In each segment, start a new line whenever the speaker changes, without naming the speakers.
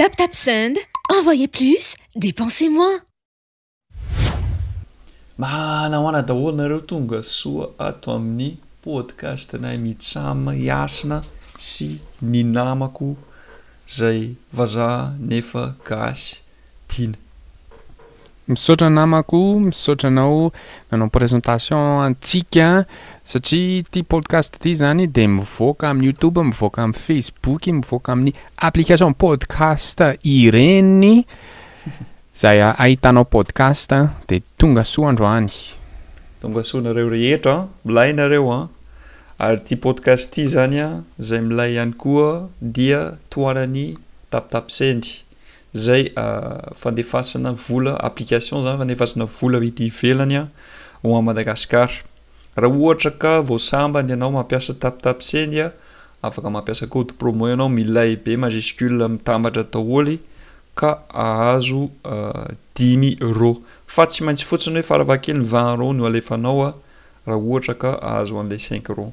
Tap tap send, envoyez plus, dépensez moins.
Manahoana daholo nareo tonga soa ato amin'ny podcast nay mitsam iasina sy ny namako zay vazaha nefa gasy tina.
Misaotra namako, misaotra anao nanao presentation antsika satria ity podcast ity izany dia mivoaka amin'ny YouTube, mivoaka amin'ny Facebook, mivoaka amin'ny application podcast ireny izay ahitanao podcast dia tonga soa androany. Tonga
soa nareo rehetra an! Milay nareo an! Ary ity podcast ity izany an, izay milay ihany koa dia tohanan'ny tapitapy sendry. zay fandefasana vola application zany fandefasana vola ety ivelany a ho an'i Madagasikara. Raha ohatra ka vao sambany ianao mampiasa tapitapsend a afaka mampiasa code promo ianao milay be majuscule mitambatra daholo ka ahazo dimy rô fa tsy maintsy fotsiny hoe farafahakeliny vingt rô no alefanao a raha ohatra ka ahazo an'ilay cinq rô.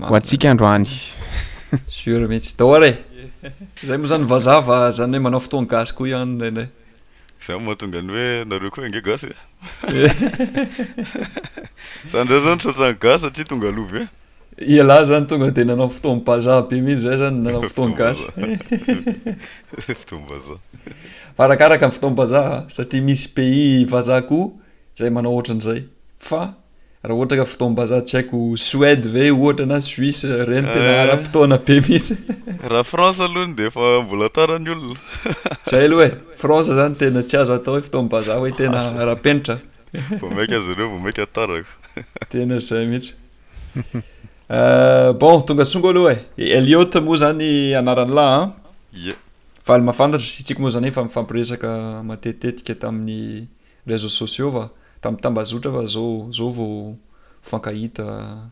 Ho antsika androany. Sûr
mihitsy. Dahor e! Zay moa zany vazaha fa zany hoe manao fotoan gasy koa ihany indraindray. Zay no mahatonga
ny hoe nareo koa ange gasy e! Zany ndray zao nisaotsa ny gasy satria tonga aloha be. Ialahy zany
tonga de nanao fotoan bazaha be mihitsy zay zany nanao fotoan gasy.
Fotoan bazaha. Fa arakaraka
ny fotoan bazaha satria misy pays vazaha koa zay manao ohatran'izay fa. raha ohatra ka fotoam-bazaha tsy haiko Suède ve ohatra na Suisse ireny eh. tena ara-potoana be mihitsy raha France
alohany dia efa mbola tara ny olona zay aloha e
France zany tena tsy azo atao hoe fotoam-bazaha hoe tena ara-penitra vao maika
azy ireo vao maika tarako tena zay
mihitsy eh, bon tonga songo aloha e Elliot moa zany anarany lahy an ye valy mafantatra isika moa zany efa mifampiresaka matetetika tamin'ny Réseaux sociaux va? Tam tambazotra va zao zao vao mifankahita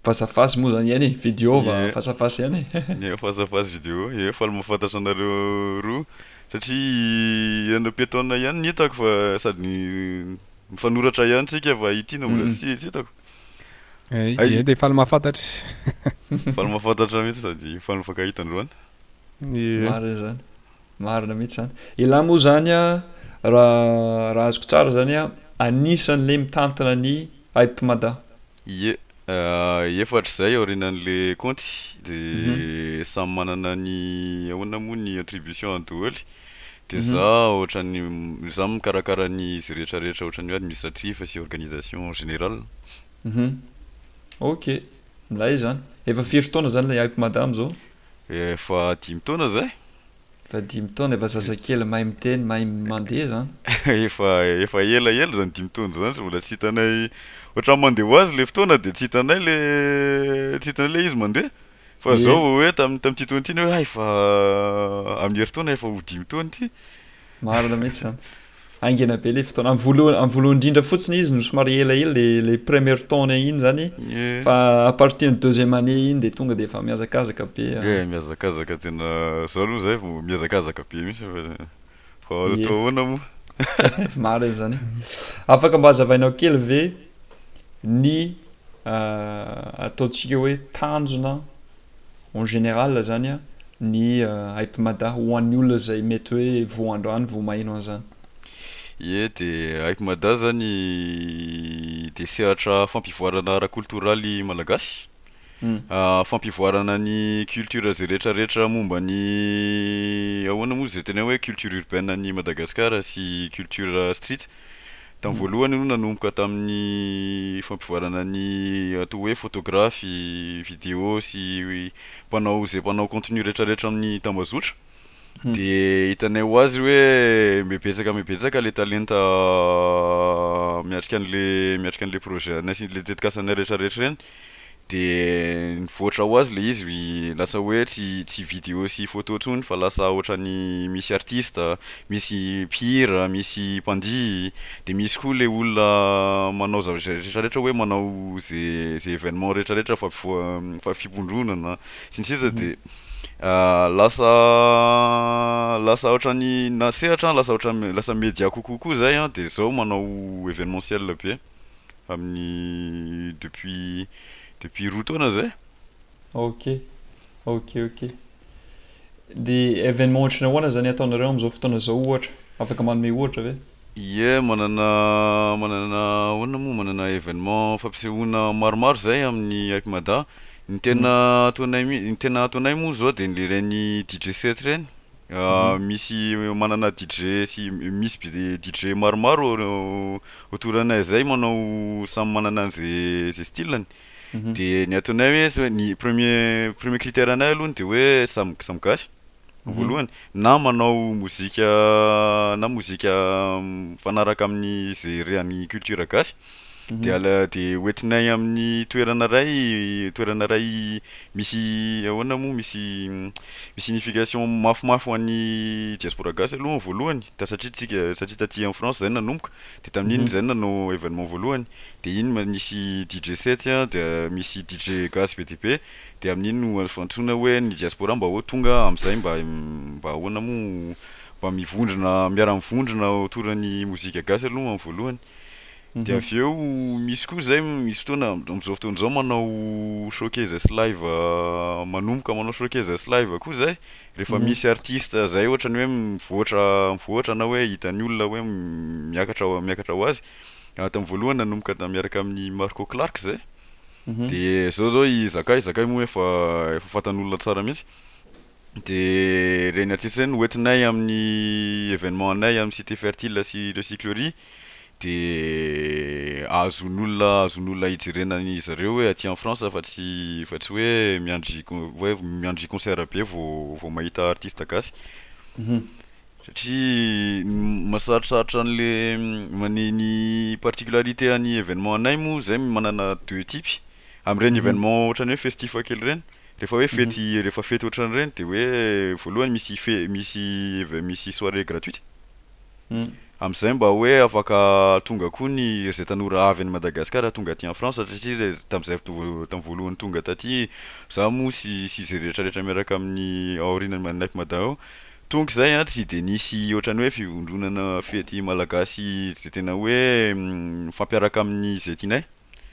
face à face moa zany iany e? Video va Ie. face à face iany e? Ie, face à face video
ie, faly mahafantatra anareo roa satria ianareo pietona iany no hitako fa sady mifanoratra iany tsika fa ity no mbola tsy tsy hitako. Hay.
Ie, de faly mahafantatra.
Faly mahafantatra mihitsy sady faly mifankahita androany. Ie. Marina
zany. Marina mihitsy izany. Elah moa izany a, raha azoko tsara izany a, anisan'ilay mitantana ny Hype Mada. Ie, efatra
izay aorianan'le kaonty de samy manana ny ahoana moa ny attribution-ny doholy de za ohatran'ny za mikarakara ny izy rehetra rehetra ohatran'ny hoe administratif sy organisation en général. Ok,
milay izany. Efa firy taona izany ilay Hype Mada amin'izao? Efa
dimy taona zay. Efa dimy
taona, efa zazakely mahay miteny, mahay mandeha zany. Efa efa
ela ela zany dimy taona zany, mbola tsy hitanay, ohatran'ny mandeha ho azy le fotoana de tsy hitanay le tsy hitanay le izy mandeha, fa zao vao hoe tam- tam'ty taona ty ny hoe hay fa amin'ny herintaona efa ho dimy taona ity, Marina mihitsy
izany. Haingana be ilay fotoana. Amin'ny voalohany, amin'ny voalohany indrindra fotsiny izy no somary elaela ilay ilay première taona iny izany fa à partir ny deuxième année iny dia tonga dia efa mihazakazaka be. Ie, mihazakazaka tena
zao aloha izay vao mihazakazaka be mihitsy fa vao hanao Ie. taona moa. Marina
izany. Afaka mba hazavainao kely ve ny ataontsika hoe tanjona en général zany a, ny Hype Mada ho an'ny olona izay mety hoe vao androany vao maheno an'izany. Ie,
dia Hype Mada zany dia sehatra fampivoarana ara-koltoraly malagasy, fampivoarana ny culture izay rehetrarehetra momba ny ahoana moa izay tena hoe culture urbaine an'i Madagasikara sy culture street. Tamin'ny voalohany aloha nanomboka tamin'ny fampivoarana ny atao hoe fotografy, video sy mpanao izay mpanao contenu retraretra amin'ny tambazotra de hitanay ho azy hoe mibebetsaka mibebetsaka le talenta miatrika an'le miatrika an'le projet anay sy le tetikasanay retraretra ireny de nivoatra ho azy le izy lasa hoe tsy tsy vidéo sy photo tsony fa lasa otrany misy artiste, misy mpihira, misy mpandihy, de misy koa le olona manao zavatra rehetra rehetra hoe manao ze ze événement rehetra rehetra fa fa fivondronana sy ny sisa de lasa lasa otrany na sehatra lasa otrany lasa media kokoa koa zay an de zao manao événementiel be. amin'ny depuis depuis roa taona zay. Ok,
ok, ok. Dia événement ohatry ny ahoana zany ataonareo amin'izao fotoana izao ohatra? Afaka manome ohatra ve? Ie, manana
manana ahoana moa, manana événement fampisehoana maromaro izay amin'ny Hypemada. Ny tena ataonay mi- ny tena ataonay moa zao dia ny ireny DJ set ireny. Misy manana DJ sy misy DJ maromaro autour anay zay manao samy manana an'izay zay style-ny de ny ataonay hoe zao ny premier premier critère anay alohany de hoe samy samy gasy voalohany na manao mozika na mozika mifanaraka amin'ny ze rean'ny culture gasy. Dia ala dia hoentinay amin'ny toerana iray, toerana iray misy ahoana moa, misy misy signification mafimafy ho an'ny diaspora gasy aloha ny voalohany, ta- satria tsika satria taty amin'ny France izay no nanomboka, dia tamin'iny izay no nanao événement voalohany, dia iny ma- nisy DJ set a, dia misy DJ gasy be dia be, dia amin'iny no azo antsoina hoe ny diaspora mba hoe tonga amin'izay mba mba ahoana moa, mba mivondrona miara-mivondrona autour ny mozika gasy aloha amin'ny voalohany. Dia avy eo misy koa izay misy fotoana amin'izao fotoana izao manao showcases live manomboka manao showcases live koa izay, rehefa misy artiste izay ohatra ny hoe mivoatra mivoatra na hoe hitan'ny olona hoe miakatra miakatra ho azy, tamin'ny voalohany nanomboka da miaraka amin'i Marco Clark izay, dia izao izao i Zakay, Zakay moa efa efa fantan'olona tsara mihitsy, Dia ireny artiste ireny no hoentinay amin'ny événement anay amin'ny cité fertile sy recyclerie dia azon'olona azon'olona hijerena ny zareo hoe aty en France fa tsy fa tsy hoe miandry hoe miandry concert be vao vao mahita artiste gasy satria mahasarosarotra an'le ny ny particularité an'ny événement anay moa zay manana deux types amin'ireny événement ohatran'ny hoe festif kely ireny Rehefa hoe fety rehefa fety ohatran'ireny dia hoe voalohany misy fe- misy eve- misy soirée gratuite. Amin'izay mba hoe afaka tonga koa ny ry zay tanora avy any Madagasikara tonga aty en France satria le tamin'izay to- tamin'ny voalohany tonga taty za moa sy sy izay rehetra rehetra miaraka amin'ny aorianan'i ma- naip mada ao, tonga izay a tsy dia nisy ohatran'ny hoe fivondronana fety malagasy izay tena hoe mifampiaraka amin'izay tianay.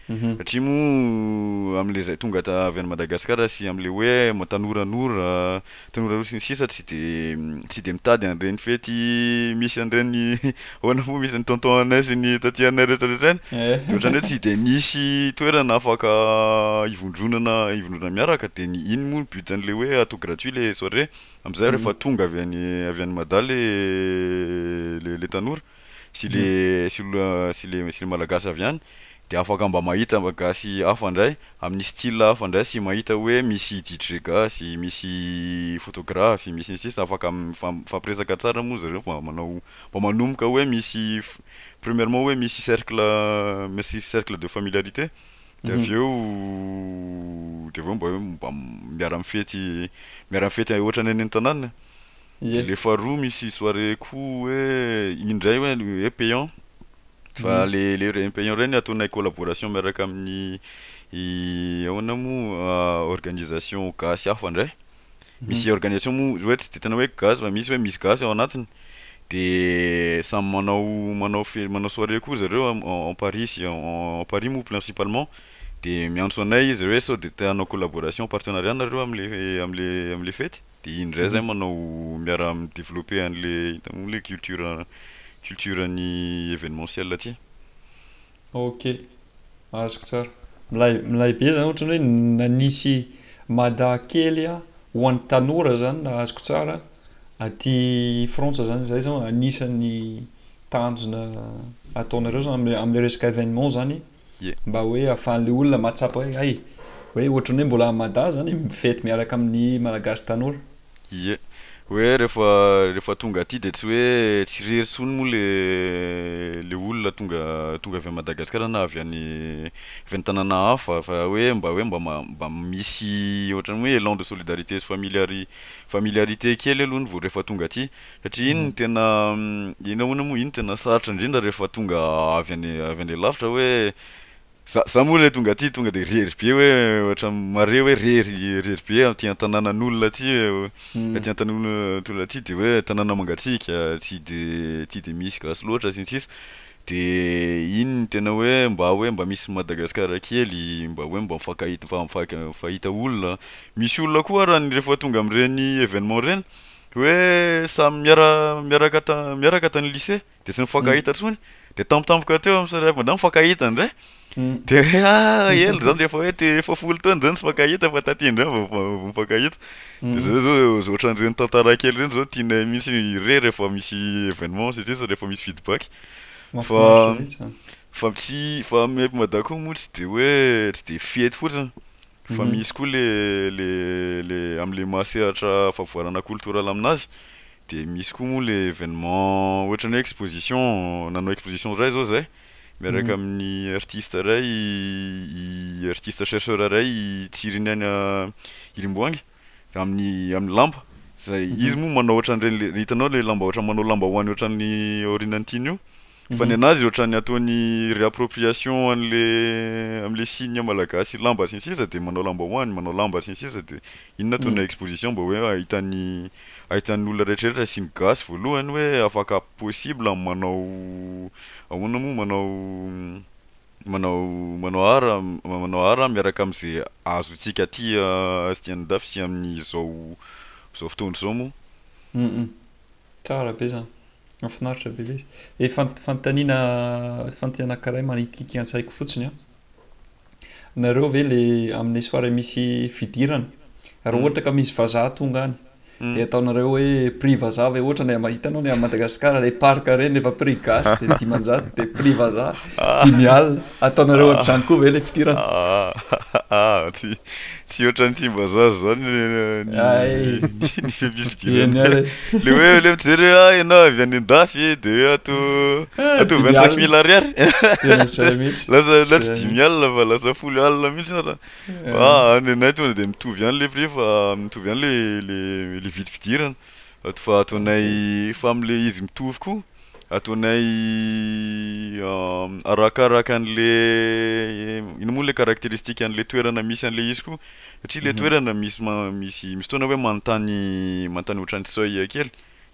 Satria moa amin'ilay izay tonga avy any Madagasikara sy amin'ilay hoe tanoranora, tanoranora sy ny sisa tsy dia tsy dia mitady an'ireny fety misy an'ireny ahoana moa misy an'i tonton anay sy ny taty anay rehetrarehetra ireny dia ohatran'ny hoe tsy dia misy toerana afaka hivondronana hivondronana miaraka dia ny iny moa ny but an'ilay hoe atao gratuit ilay soirée amin'izay rehefa tonga avy any avy any Mada ilay ilay tanora. sy le sy olona sy le sy le malagasy avy any de afaka mba mahita mba gasy hafa ndray amin'ny style hafa ndray sy mahita hoe misy DJ gasy, misy photographe, misy ny sisa afaka mifam- mifampiresaka tsara moa zareo mba manao mba manomboka hoe misy f- premièrement hoe misy cercle misy cercle de familiarité de avy eo de avy eo mba hoe mba miara mifety miara mifety ohatra ny any an-tanàna. Ie. Le faharoa misy soirée ko hoe iny ndray hoe hoe payant fa le le reny payant reny ataonay collaboration miaraka amin'ny i ahoana moa organisation gasy hafa ndray misy organisation moa hoe tsy de tena hoe gasy fa misy hoe misy gasy ao anatiny de samy manao manao fe- manao soirée koa zareo am- en en paris sy en en paris moa principalement de miantso anay izy hoe sao de te hanao collaboration partenariat nareo am'le am'le am'le fety Dia iny indray zay manao miaraha mi developper an'le hitanao le culture culture ny evenementiel aty. Ok,
azoko tsara. Milay milay be zany ohatran'ny hoe nanisy Mada kely ho an'ny tanora zany raha azoko tsara aty Frantsa zany zay zao anisan'ny tanjona ataonareo zany am'le am'le resaka evenement zany mba hoe ahafahan'ilay olona mahatsapa hoe hay, hoe ohatran'ny hoe mbola any Mada zany e, mifety miaraka amin'ny Malagasy tanora. Ie.
Hoe rehefa rehefa tonga aty dia tsy hoe tsy irery intsony moa le le olona tonga tonga avy any Madagasikara na avy any avy any tanàna hafa fa hoe mba hoe mba ma- mba misy ohatran'ny hoe élan de solidarité sy familiari- familiarité kely aloha ny vao rehefa tonga aty. Satria iny no tena, iny ahoana moa, iny tena sarotra indrindra rehefa tonga avy any avy any lavitra hoe, za za moa le tonga aty tonga de rery be hoe ohatra mare hoe rery rery be aty an-tanànan'olona aty hoe, aty an-tanànan'olona aty de hoe tanàna mangatsiaka, tsy de tsy de misy gasy loatra sy ny sisa, de iny no tena hoe mba hoe mba misy Madagasikara kely, mba hoe mba mifankahita mifa- mifank- mifahita olona, misy olona koa ary rehefa tonga amin'ireny événement ireny Dia hoe samy miara miaraka ta miaraka tany lycée dia tsy nifankahita intsony dia tampotampoka teo amin'i Sary Hafa mifankahita indray dia hoe ah ela izany dia efa hoe te efa folo taona izao no tsy mifankahita fa taty indray vao vao vao mifankahita dia izay izao izay ohatran'ireny tantara kely ireny izao tianay mihitsy re rehefa misy événement sy ny sisa rehefa misy feedback fa fa tsy fa aminay eto Mada koa moa tsy dia hoe tsy dia fihety fotsiny. Fa misy koa le le le amle maha sehatra favoarana cultural aminazy de misy koa moa le evenement ohatra ny hoe exposition nanao exposition ray zao zay miaraka aminy artiste ray i artiste chercheur ray i Tsiriny any Rimboangy amin'ny amin'ny lamba izay izy moa manao ohatran'ireny le hitanao le lamba ohatran'ny manao lambahoany ohatran'ny aorianan'ny tiany io fa ny anazy ohatran'ny ataony réappropriation an'le amin'le signe malagasy lamba sy ny sisa de manao lambahoany manao lamba sy ny sisa de iny no ataony exposition mba hoe ahitan'ny ahitan'ny olona rehetrarehetra sy ny gasy voalohany hoe afaka possible ny manao ahoana moa manao Manao manao art manao art miaraka am'ze azontsika aty aty andafy sy amin'izao zao fotoana izao moa. Humm
tsara be zany. Mafinaritra be lay izy. Ilay fant- fanontaniana fantany anankiray manitikitika an-tsaiko fotsiny an. Nareo ve le amin'ny soirée misy fidirana? Raha ohatra ka misy vazaha tonga any. dia ataonareo hoe prix vazaha ve ohatra ny mahita anao ny any Madagascar ilay parc ireny rehefa prix gasy dia dimanjato dia prix vazaha dimy alina ataonareo ohatr'izany koa ve ilay fidirana ah tsy
tsy ohatran'ny tsimbazaza izany ny fifidianana ilay hoe ilay mijery hoe ah ianao avy any an-dafy eh, dia hoe ato ato vingt-cinq mille ariary lasa lasa dimy alina fa lasa folo alina mihitsy ara Ah, ny anay tonga dia mitovy ihany ilay prix fa mitovy ihany ilay ilay ilay vy fidirana. Ato fa ataonay fa amin'ilay izy mitovy koa, ataonay arakaraka an'ilay inona moa ilay caractéristique an'ilay toerana misy an'ilay izy koa. Satria ilay toerana misy ma- misy misy fotoana hoe manontany manontany ohatran'ny seuil kely.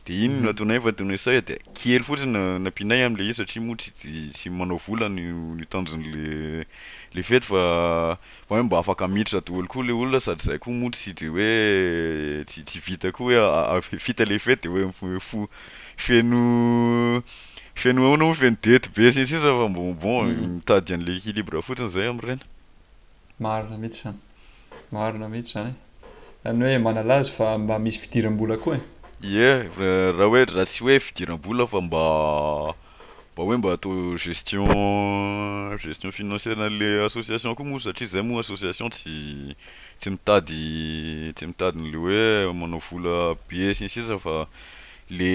Dia iny no nataonay fa tony hoe sahy dia kely fotsiny no nampianay amin'ilay izy satria moa tsy tsy manao vola ny ny tanjon'ilay ilay fety fa fa hoe mba afaka miditra daholo koa ilay olona sady izahay koa moa tsy dia hoe tsy tsy vita koa hoe avy vita ilay fety dia hoe mif- fo feno feno ahoana moa feno dette be sy ny sisa fa bon bon mitady an'ilay équilibre fotsiny izahay amin'ireny. Marina
mihitsy izany. Marina mihitsy izany. Izany hoe manala azy fa mba misy fidiram-bola koa e. Ie, raha
hoe raha tsy hoe fidiram-bola fa mba mba hoe mba atao gestion gestion financière an'le association koa moa satria zay moa association tsy tsy mitady tsy mitady an'le hoe manao vola be sy ny sisa fa le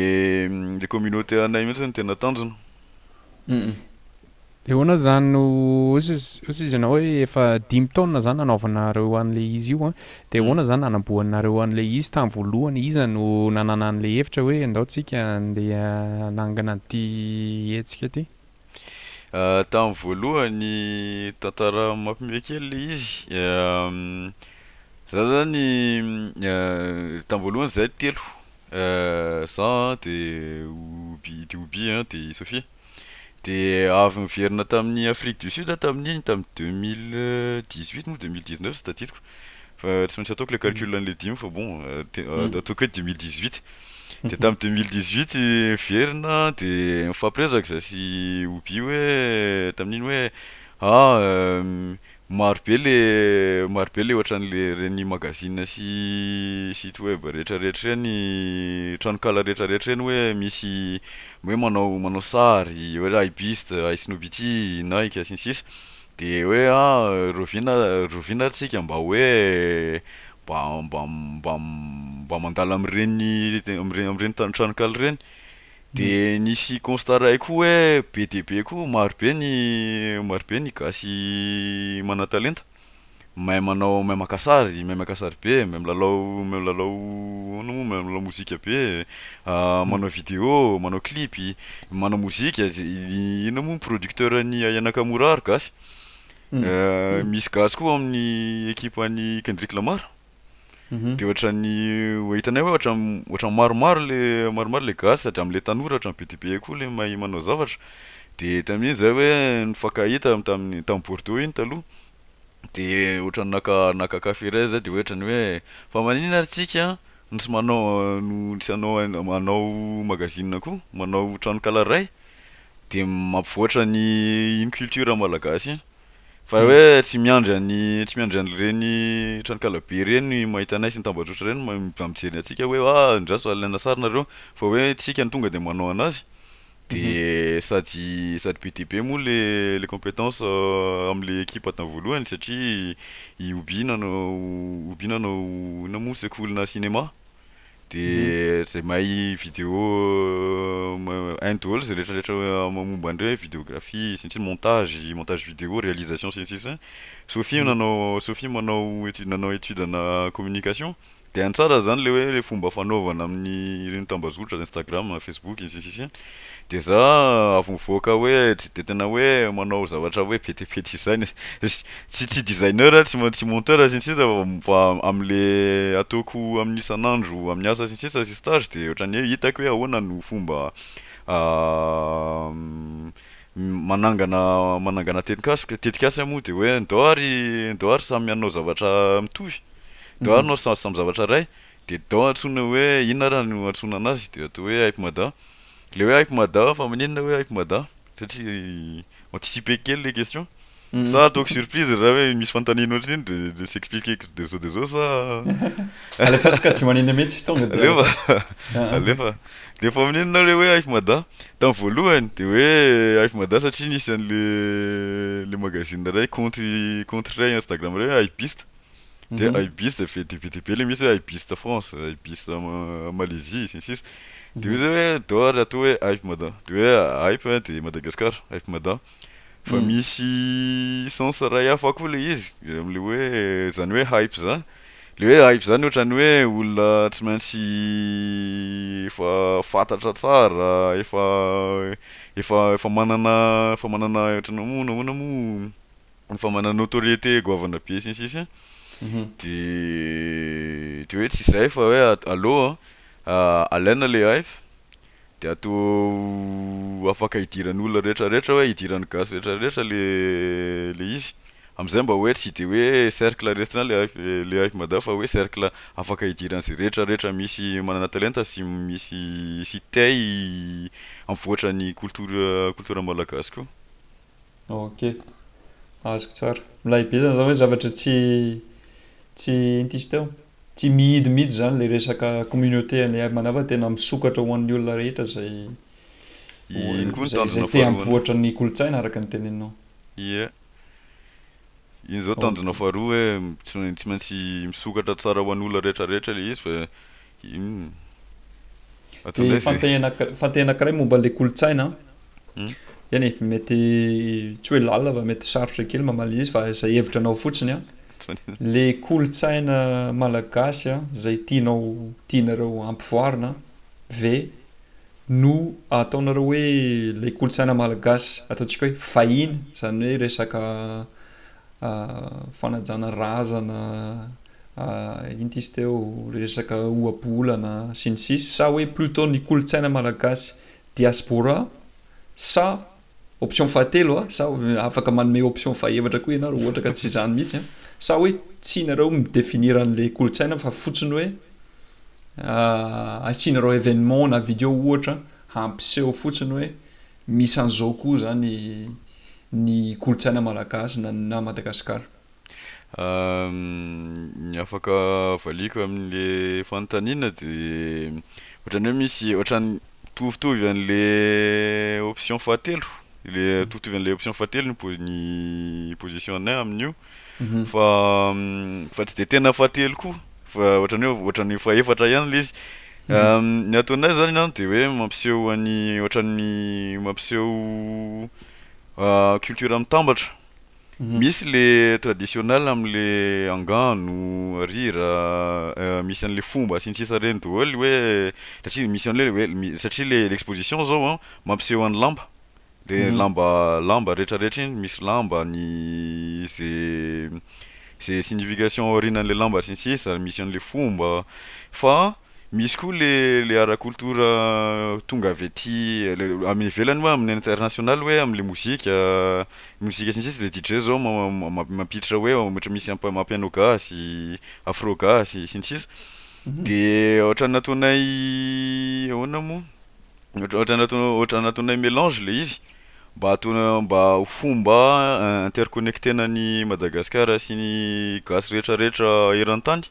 le communauté anay mihitsy no tena tanjona.
Eoana zany no osa osa izy anao hoe efa dimy taona zany nanaovanareo an'le izy io an, de Mm. ahoana zany nanamboanareo an'le izy tany voalohany, iza no nanana an'le hevitra hoe ndao tsika andeha hanangana an'ty hetsika ty? Ah,
tamin'ny voalohany, tantara mampime kely le izy, za zany tamin'ny voalohany zahay telo, za de Oby, de Oby an de Sofia, Dia avy niverina tamin'i Afrique du Sud aho tamin'iny tamin'ny deux mille dix huit moa deux mille dix neuf tsy tadidiko fa tsy maintsy ataoko ilay calcul an'ilay dimy fa bon ataoko hoe deux mille dix huit dia tamin'ny deux mille dix huit niverina dia nifampiresaka izaho sy Oby hoe tamin'iny hoe ah Maro be le maro be le ohatran'le reny magazine sy site web rehetra rehetra reny tranonkala rehetra rehetra reny hoe misy hoe manao manao sary hoe hay buste hay snobity nike sy ny sisa de hoe a rovina rovina ary tsika mba hoe mba mba mba mba mandala am'reny am're- am'reny tranonkala reny De nisy constat ray koa hoe be dia be koa maro be ny maro be ny gasy manan-talenta, mahay manao mahay maka sary mahay maka sary be, mahay milalao mahay milalao ahoana moa mahay milalao mozika be, manao video, manao clip, manao mozika ze inona moa ny producteur an'i Aya Nakamura ary gasy, misy gasy koa ao amin'ny ekipan'i Kendrick Lamar. dia ohatran'ny ho hitanay hoe ohatran'ny ohatran'ny maromaro le maromaro le gasy sady amin'ilay tanora ohatran'ny be dia be koa le mahay manao zavatra dia tamin'iny izahay hoe nifankahita tamin'ny tamin'ny Bordeaux iny taloha dia ohatran'ny naka naka kafe iray izahay dia hoe ohatran'ny hoe fa maninona ary tsika no tsy manao no tsy hanao an- manao magazine koa manao tranonkala iray dia mampivoatra ny iny culture malagasy iny Fa hoe tsy miandry an'i tsy miandry an'ireny tranonkalabe ireny ny mahita anay sy ny tambajotra ireny ma- mba mijery ny antsika hoe ah andraso alaina sary nareo fa hoe tsika no tonga de manao anazy de sady sady be dia be moa le le compétence euh, am'le ekipa tany voalohany satria i Oby nanao Oby nanao inona moa sekolinà cinéma. De zay mahay vidéo hainy daholo zay rehetra rehetra momba an'ireo hoe videographie sy ny sisa, montage, montage vidéo, réalisation sy ny sisa. Sophie no nanao, Sophie manao étude nanao étude ana communication de hainy tsara zany le hoe le fomba fanaovana amin'ny ireny tambazotra, Instagram, Facebook sy ny sisa. Dia za avy mivoaka hoe tsy dia tena hoe manao zavatra hoe be dia be design, tsy tsy designer tsy tsy monteur sy ny sisa fa amle ataoko amin'ny isan'andro amin'ny asa sy ny sisa sy stage dia ohatran'ny hoe hitako hoe ahoana no fomba manangana manangana tetikasako, tetikasa moa dia hoe ndao ary ndao ary samy hanao zavatra mitovy, ndao ary anao samy zavatra iray, dia dao antsoina hoe inona ary no antsoina anazy dia atao hoe hype mada le hoe hype mada fa maninona hoe hype mada satria anticiper kely le question sa ataoko surprise raha hoe misy fanontaniana ohatriny de s'expliquer de zao de zao sa alefa
sokajimanina mihitsy tonga de alefa alefa
de fa maninona le hoe hype mada tam voalohany de hoe hype mada satria nisy anle le magazine ray compte compte ray instagram ray hoe hypiste Dia Mhm. Ibis dia ve dia be dia be ilay misy hoe Ibis ta France, Ibis ta Ma- Malaisie, sy ny sisa. Dia hoe zay hoe dehors ry atoa hoe Hype Mada. Dia hoe Hype hoe dia Madagascar, Hype Mada. Fa Mm. misy sens iray hafa koa ilay izy, amin'ilay hoe izany hoe Hype izany. Ilay hoe Hype izany ohatran'ny hoe olona tsy maintsy efa fantatra tsara, efa efa efa manana efa manana ohatran'ny hoe moa nahoana moa efa mana notoriété goavana be sy ny sisa de de hoe tsy zay fa hoe allo alaina le hype de atao afaka idiran'ny olona rehetra rehetra hoe idiran'ny gasy rehetra rehetra le le izy amizay mba hoe tsy de hoe cercle restreint le hype le hype mada fa hoe cercle afaka idiran'izay rehetra rehetra misy manana talenta sy misy sy te hi- hampivoatra ny culture culture malagasy koa. Ok,
azoko tsara. Milay be zany zany hoe zavatra tsy tsy inty izy teo? Tsy mihidy mihitsy zany le resaka communauté an'i Air Manava tena misokatra ho an'ny olona rehetra izay Iny koa ny tanjona faharoa. Izay te hampivoatra ny kolontsaina araka ny teneninao. Ie.
Iny zao tanjona faharoa hoe tsy maintsy misokatra tsara ho an'olona rehetra rehetra le izy fa
Dia fantay fantay anankiray momba ilay kolontsaina an, eny e, mety tsy hoe lalina fa mety sarotra kely mamaly izy fa izay hevitra anao fotsiny an, le kolontsaina malagasy an, izay tianao tianareo hampivoarina ve no ataonareo hoe ilay kolontsaina malagasy ataontsika hoe vahiny, izany hoe resaka fanajana razana. Inty izy teo resaka ohabolana sy ny sisa sa hoe plutot ny kolontsaina malagasy diaspora sa option fahatelo a sa afaka manome option fahefatra koa ianao raha ohatra ka tsy izany mihitsy a sa hoe tsy ianareo mi definir an'ilay kolontsaina fa fotsiny hoe asianareo événement na video ohatra hampiseho fotsiny hoe misy an'izao koa izany ny kolontsaina malagasy na na Madagasikara.
Ny afaka avaliako amin'le fanontaniana de ohatran'ny hoe misy ohatran'ny mitovitovy an'le option fahatelo, le mitovitovy an'le option fahatelo ny po- ny position-nay amin'io fa fa tsy de tena fahatelo koa fa ohatran'ny hoe ohatran'ny hoe fahefatra ihany le izy, ny ataonay zany an de hoe mampiseho an'ny ohatran'ny mampiseho culture mitambatra. Misy le traditionnel am le angano, rira, misy anle fomba sy ny sisa reny doholy hoe satria misy anle hoe satria le exposition zao an mampiseho an'ny lamba de lamba lamba rehetra rehetra iny misy lamba ny ze ze signification aoriananle lamba sy ny sisa misy anle fomba fa Misy koa le le ara culture tonga avy aty amin'ny ivelany moa amin'ny international hoe amle mozika mozika sy ny sisa le DJ zao mampiditra hoe ohatra misy amapiano gasy afro gasy sy ny sisa de ohatra nataonay ahoana moa ohatra nataonay ohatra nataonay melange le izy mba ataonay mba ho fomba interconnectena an'i Madagasikara sy ny gasy retraretra eran-tany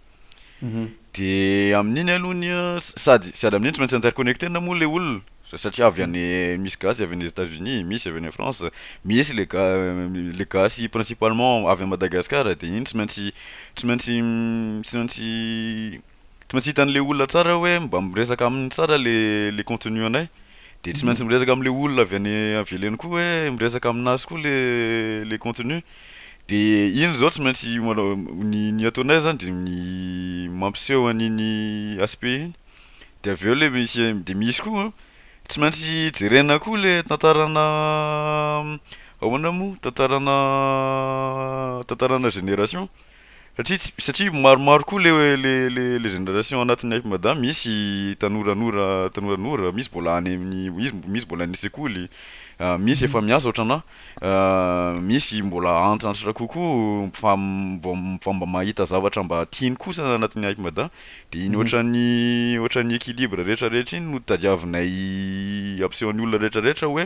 de amin'iny aloha ny sady sady amin'iny tsy maintsy interconnecté na moa le olona satria avy any misy gasy avy any Etats Unis misy avy any France misy le ga- le gasy principalement avy any Madagascar de iny tsy maintsy tsy maintsy tsy maintsy tsy maintsy hitan'le olona tsara hoe mba miresaka aminy tsara le le contenu anay de tsy maintsy miresaka am'le olona avy any velany koa hoe miresaka aminazy koa le le contenu. Dia iny izao tsy maintsy ny ny ataonay zany de ny mampiseho an'iny aspect iny, de avy eo le misy de misy koa tsy maintsy jerena koa le tantaranà ahoana moa tantaranà tantaranà génération Satria tsy, satria maromaro koa le, le, le, le génération anatin'ny Afmadam, misy tanoranora, tanoranora, misy mbola any amin'ny, izy, misy mbola any an-tsekoly, misy efa miasa ohatranà, misy mbola antitrantitra kokoa, fa vao, vao mba mahita zavatra mba tiany kosa anatin'ny Afmadam, de iny ohatran'ny, ohatran'ny équilibre rehetra rehetra iny no tadiavinay ampisehoan'ny olona rehetra rehetra hoe,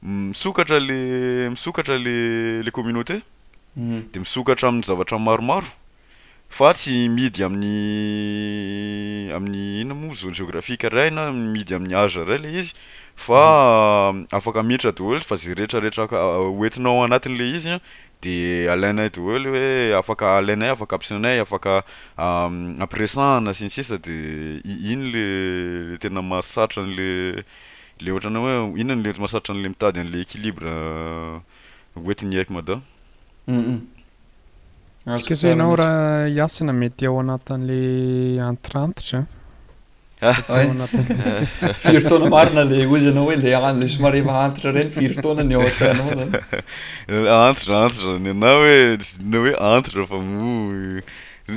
Misokatra le misokatra le le communauté de misokatra amin'ny zavatra maromaro fa tsy mihidy amin'ny amin'ny inona moa zone géographique iray na mihidy amin'ny âge iray le izy fa afaka miditra daholo fa ze rehetra rehetra ka ho entinao anatiny le izy an de alainay daholo hoe afaka alainay afaka ampisainay afaka ampiresahana sy ny sisa de i- iny le tena mahasarotra an'le Le ohatranao hoe inona ny lety masarotra anle mitady anle equilibre hoentin'ny aiko mada.
Tsika zay enao ra hiasina mety ao anatinle antirantitra
Firy taona marina le ozy anao hoe le any le somary efa antitra reny firy taona ny ao an-tsainao zany? Antitra
antitra ny anah hoe ny hoe antitra fa moa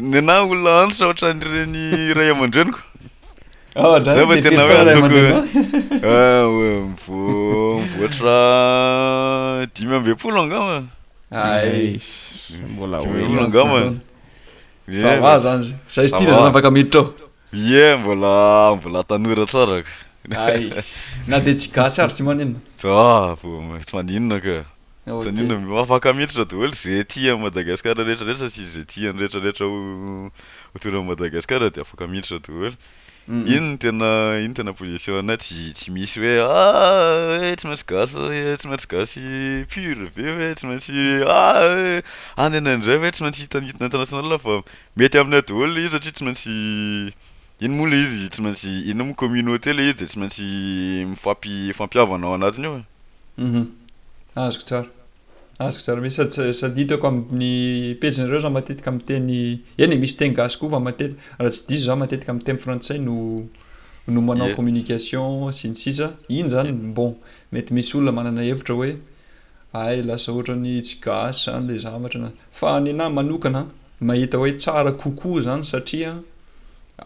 ny anah olona antitra ohatran'ireny ray aman-dreniko. Ah, Zay vao tena hoe ataoko mivoatra dimy ambin'ny folo angamba. Ay,
mbola
dimy ambin'ny folo angamba.
Ça
va zany zay. Zay style zany afaka miditra ao. Ie, mbola
mbola tanora tsara ka. Ay,
na dia tsy gasy ary tsy maninona. Za, vao
tsy maninona ka. Izany hoe na afaka miditra daholo izay tia an'i Madagasikara rehetrarehetra sy izay tian'ny rehetrarehetra ho ho tony amin'i Madagasikara dia afaka miditra daholo. Iny no tena iny no tena position-nay, tsy tsy misy hoe ah eh tsy maintsy gasy eh tsy maintsy gasy pur ve hoe tsy maintsy ah eh any ianay indray hoe tsy maintsy hita ny hita ny international fa mety aminay daholo io satria tsy maintsy Iny moa ilay izy tsy maintsy iny moa communauté ilay izy dia tsy maintsy mifampifampihavana ao anatiny ao e. Uhum. Azoko tsara.
Azoko tsara be. Sady sady hitako amin'ny pejinareo za matetika miteny, eny e, misy teny gasy koa fa matetika, raha tsy diso za matetika miteny frantsay no no manao Ie. communication sy ny sisa. Iny zany bon, mety misy olona manana hevitra hoe. Hay lasa ohatran'ny tsy gasy zany le zavatra na. Fa ny anahy manokana mahita hoe tsara kokoa zany satria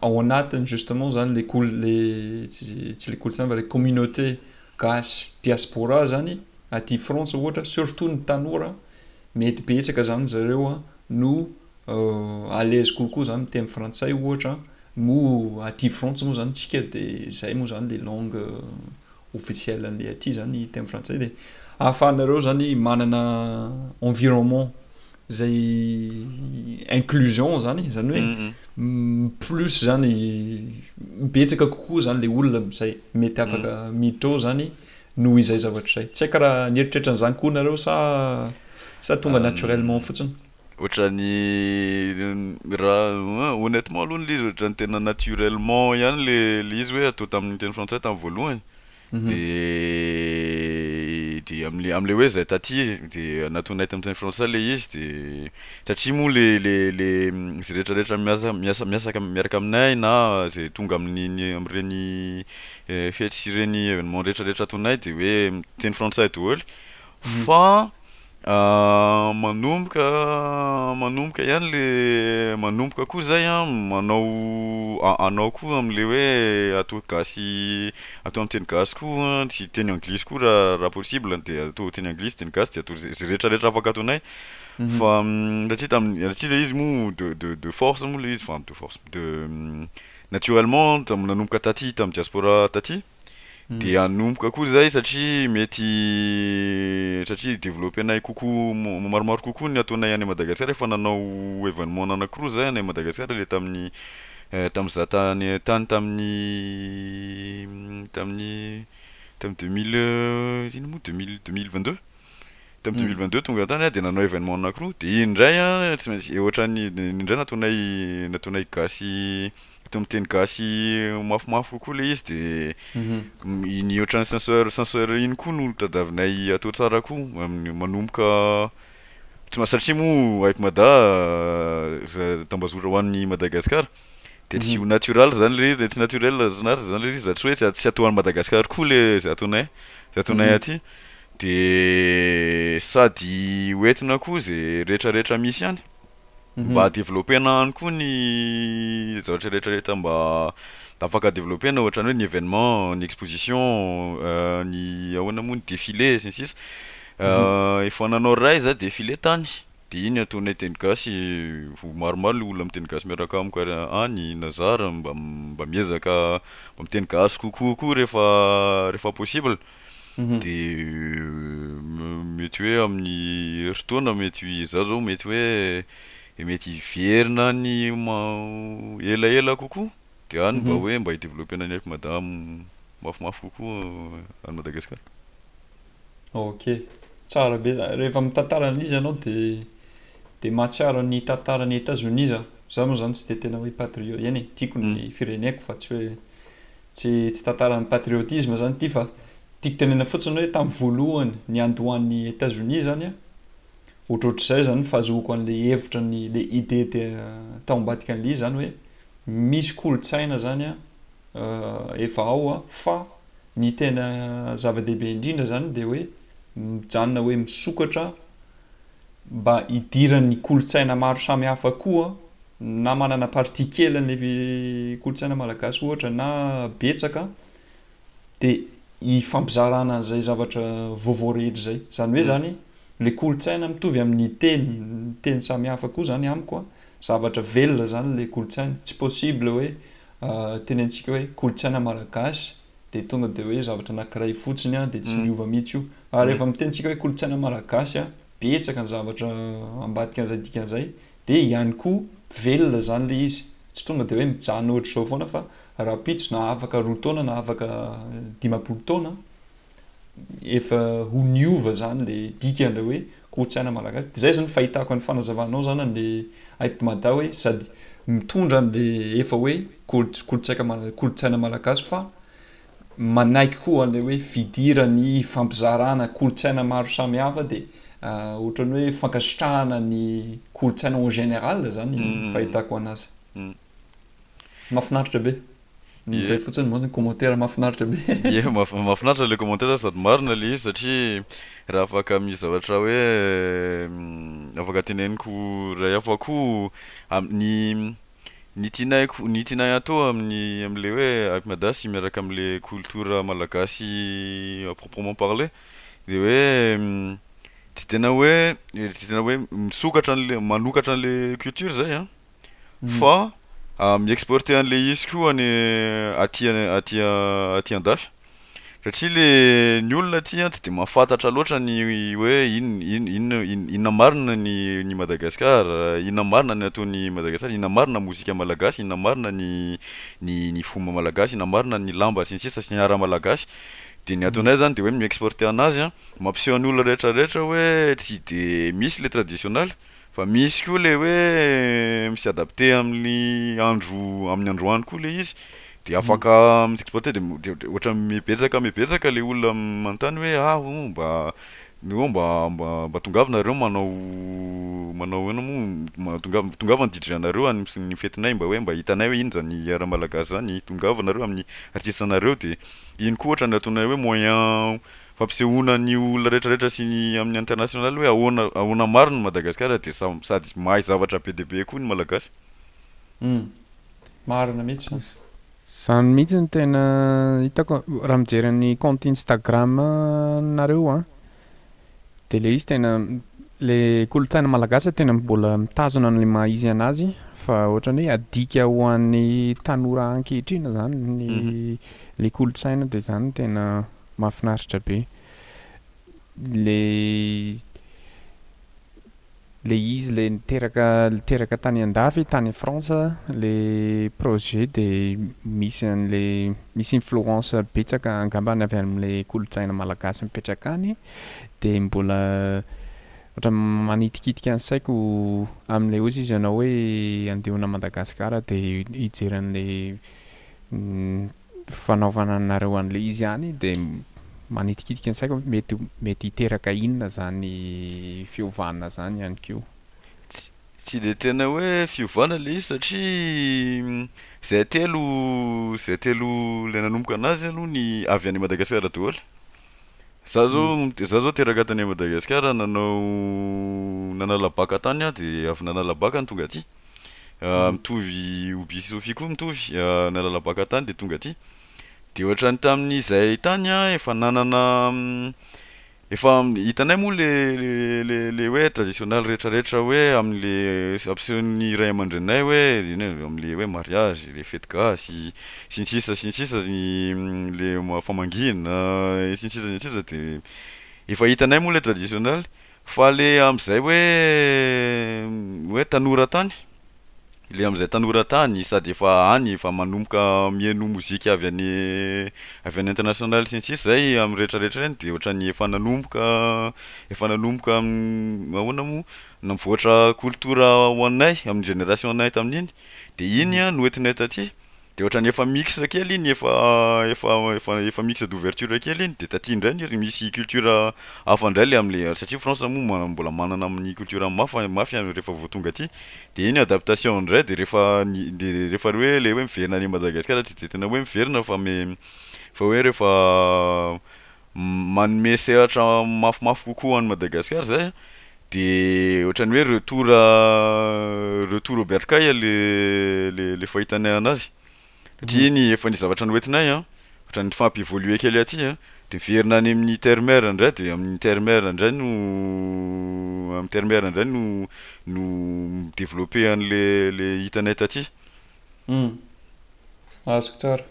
ao anatiny justement zany le kol- le tsy le kolontsaina fa le communauté gasy diaspora zany aty Frantsa ohatra surtout ny tanora mety betsaka zany zareo no à l'aise kokoa zany miteny frantsay ohatra moa aty Frantsa moa zany tsika de zay moa zany le langue officiel anle aty zany teny frantsay de ahafahanareo zany manana environnement zay inclusion zany zany hoe mm, mm. plus zany betsaka kokoa zany le olona zay mety afaka mm. miditra ao zany noho izay zavatra zay tsy haiko raha nieritreritra an'izany koa nareo sa sa tonga naturellement fotsiny Ohatran'ny
raha honnêtement aloha ny izy ohatran'ny tena naturellement ihany le le izy hoe atao tamin'ny teny frantsay tamin'ny voalohany de de am'le am'le hoe zay taty de natonay tamin'ny teny frantsay le izy de satria moa le le le zay rehetrarehetra miasa miasa miasaka miaraka aminay na zay tonga amin'iny am'ireny fety sy ireny événement rehetrarehetra ataonay de hoe miteny frantsay daholo fa manomboka manomboka ihany le manomboka koa zay an manao anao koa amle hoe atao gasy atao am teny gasy koa tsy teny anglisy koa ra ra possible de atao teny anglisy teny gasy de atao ze ze rehetra rehetra afaka ataonay fa satria tam satria le izy moa de de de force moa le izy fa de force de naturellement tam nanomboka taty tam diaspora taty de hanomboka koa zay satria mety satria developper-nay kokoa mo- maromaro kokoa ny ataonay any Madagasikara efa nanao evenement anankiroa zay any Madagasikara le tamin'ny tamin'izaho tany tany tamin'ny tamin'ny tamin'ny deux mille ino moa deux mille deux mille vingt deux tamin'ny deux mille vingt deux tonga tany ah de nanao evenement anankiroa de iny ndray a tsy maintsy e ohatran'ny iny ndray nataonay nataonay gasy Mety miteny gasy mafimafy kokoa ilay izy dia iny ohatran'ny senseur senseur iny koa no tadiavinay atao tsara koa manomboka satria moa aiko Mada tambazora ho an'ny Madagascar dia tsy ho natural zany le izy tsy naturel zany ary zany le izy zany hoe tsy atao any Madagascar koa le zay ataonay zay ataonay aty dia sady ho entina koa zay retraretra misy any. Mba Mhm. developpena ihany koa ny zavatra rehetra rehetra mba afaka developpena ohatrany hoe ny événement, ny exposition, euh, ny ahoana moa ny défilé sy ny sisa. Mhm. Euh, efa nanao ray za défilé tany. De iny ataonay teny gasy, ho maromaro le olona miteny gasy miaraka amiko ary any na zara mba mba miezaka mba miteny gasy kokoa koa rehefa rehefa possible. dia mety hoe amin'ny herintaona mety izaho izao mety hoe mety hiverina any elaela kokoa dia any mba hoe mba hi-developpena ny aiko madama mafimafy kokoa any Madagasikara.
Ok, tsara be, rehefa mitantara an'ilay izy ianao dia mahatsiaro ny tantaran'i Etazonia izaho, izaho moa izany tsy dia tena hoe patriote, eny e, tiako ny fireneko fa tsy hoe Tsy tsy tantaran'ny patriotisme zany ity fa tiako tenenina fotsiny hoe tamin'ny voalohany niandohan'ny Etazonia zany an, ohatrohatr'izay zany ny fahazoako an'ilay hevitra ny le idée de tao ambadikan'ilay izy zany hoe misy kolontsaina zany an efa ao an fa ny tena zava-dehibe indrindra zany dia hoe mijanona hoe misokatra mba hidiran'ny kolontsaina maro samihafa koa na manana partie kely an'ilay kolontsaina malagasy ohatra na betsaka de hifampizarana an'izay zavatra vaovao rehetra izay, izany hoe izany ilay kolontsaina mitovy amin'ny teny, teny samihafa koa izany amiko an, zavatra velona izany ilay kolontsaina, tsy possible hoe tenenitsika hoe kolontsaina malagasy, dia tonga dia hoe zavatra anankiray fotsiny an, dia tsy miova mihitsy io. Ary rehefa miteny tsika hoe kolontsaina malagasy an, betsaka ny zavatra ambadika an'izay dikan'izay, dia ihany koa velona izany ilay izy. Tsy tonga dia hoe mijanona ohatr'izao foana fa rahampitso na afaka roa taona na afaka dimampolo taona an, efa ho niova izany ilay dikan'ilay hoe kolotsaina malagasy de zay zany fahitako any fanazavanao zany any le aip mada hoe sady mitondra any le efa hoe kolotsaika kolotsaina malagasy fa manaiky koa anle hoe fidirany hifampizarana kolotsaina maro samy hafa de otrany hoe fankasitrahana ny kolotsaina en general zany fahitako anazy. Mafinaritra be. Izay fotsiny monja ny commentaire mafinaritra be. Ye mafinaritra le
commentaire sady marina le izy satria raha afaka mizavatra hoe afaka teneniko ray aho fa ko ny ny tianay ny tianay atao aminy amle hoe Hype Mada sy miaraka amle culture malagasy à proprement parler de hoe tsy tena hoe tsy tena hoe misokatra anle manokatra anle culture zay an. fa mi-exporter an'ilay izy koa any aty aty aty andafy satria le ny olona aty an tsy de mahafantatra loatra ny hoe in- in- inona in- inona marina ny ny Madagascar inona marina ny ataon'i Madagascar inona marina ny mozika malagasy inona marina ny ny ny fomba malagasy inona marina ny lamba sy ny sisa sy ny art malagasy de ny ataonay zany de hoe mi-exporter anazy an mampiseho an'olona rehetra rehetra hoe tsy de misy le traditionnel Fa misy koa le hoe mi s'adapter amin'ny andro amin'ny androany koa le izy de afaka mi s'exporter de de de ohatra mibetsaka mibetsaka le olona manontany hoe ah oh mba oh mba mba mba tongava nareo manao manao ahoana moa ma- tongav- tongava ny DJ anareo any ms- ny fetinay mba hoe mba hitanay hoe ino zany ara malagasy zany tongava nareo amin'ny artiste anareo de iny koa ohatra ny ataonay hoe moyen fampisehoana an'io olona rehetra rehetra sy ny amin'ny internationale hoe ahoana ahoana marina i Madagasikara dia samy sady mahay zavatra be dia be koa ny Malagasy. Humm.
Marina mihitsy an. Zany
mihitsy no tena hitako raha mijery an'ny compte Instagram nareo an, de le izy tena le kolontsaina malagasy tena mbola mitazona anle maha izy anazy fa ohatrany hoe adika ho an'ny tanora ankehitriny zany ny le kolontsaina de zany no tena Mahafinaritra be le le izy le niteraka niteraka tany andafy tany France le projet de misy anle misy influence betsaka angambany avy amle kolotsaina malagasy mipetraka any de mbola ohatra manitikitika ny saiko amle ozy izy anao hoe andeona Madagascar de hijery anle fanaovana anareo anle izy ihany de manitikitika ny saiko hoe mety mety hiteraka inona zany fiovana zany ihany ko. Tsy
de tena hoe fiovana le izy satria zay telo zay telo le nanomboka anazy aloha ny avy any Madagasikara daholo, za zao za zao teraka tany Madagasikara nanao nanala bac tany aho de avy nanala bac no tonga aty. mitovy Oby sy Sofia koa mitovy nalala baka tany de tonga aty de ohatrany tamin'izay tany an efa nanana efa hitanay moa le le le hoe traditionnel retraretra hoe amle ampisehoan'ny ray aman-dreninay hoe amle hoe mariage le fety gasy sy ny sisa sy ny sisa le famangina sy ny sisa sy ny sisa de efa hitanay moa le traditionnel Fa le amzay hoe hoe tanora tany, le amzay tanora tany sady efa any efa manomboka mihaino mozika avy any avy any international sy ny sisa zay am rehetra rehetra reny de ohatrany efa nanomboka efa nanomboka ahoana mo nivoatra culture ho anay am generation anay tamin'iny de iny an no entinay taty. De otrany efa mixed kely iny efa efa efa efa mixed d'ouverture kely iny de taty indray ny ry misy culture hafa indray le amle satria France moa ma- mbola manana amin'ny culture mafa mafy refa vao tonga aty de iny adaptation indray de refa ny de refa le hoe le hoe miverina any Madagascar tsy de tena hoe miverina fa me fa hoe refa manome sehatra mafimafy kokoa ho an'i Madagasikara zay an, de ohatran'ny hoe retour retour au bercail le le le fahitanay anazy satria ny efa ny zavatra noentinay an ohatra ny fa hampi-evoluer kely aty an de miverina any amin'ny terre mère ndray de amin'ny terre mère ndray no amin'ny terre mère ndray no no mi-developper an'le le hitanay taty. Humm.
Azoko tsara.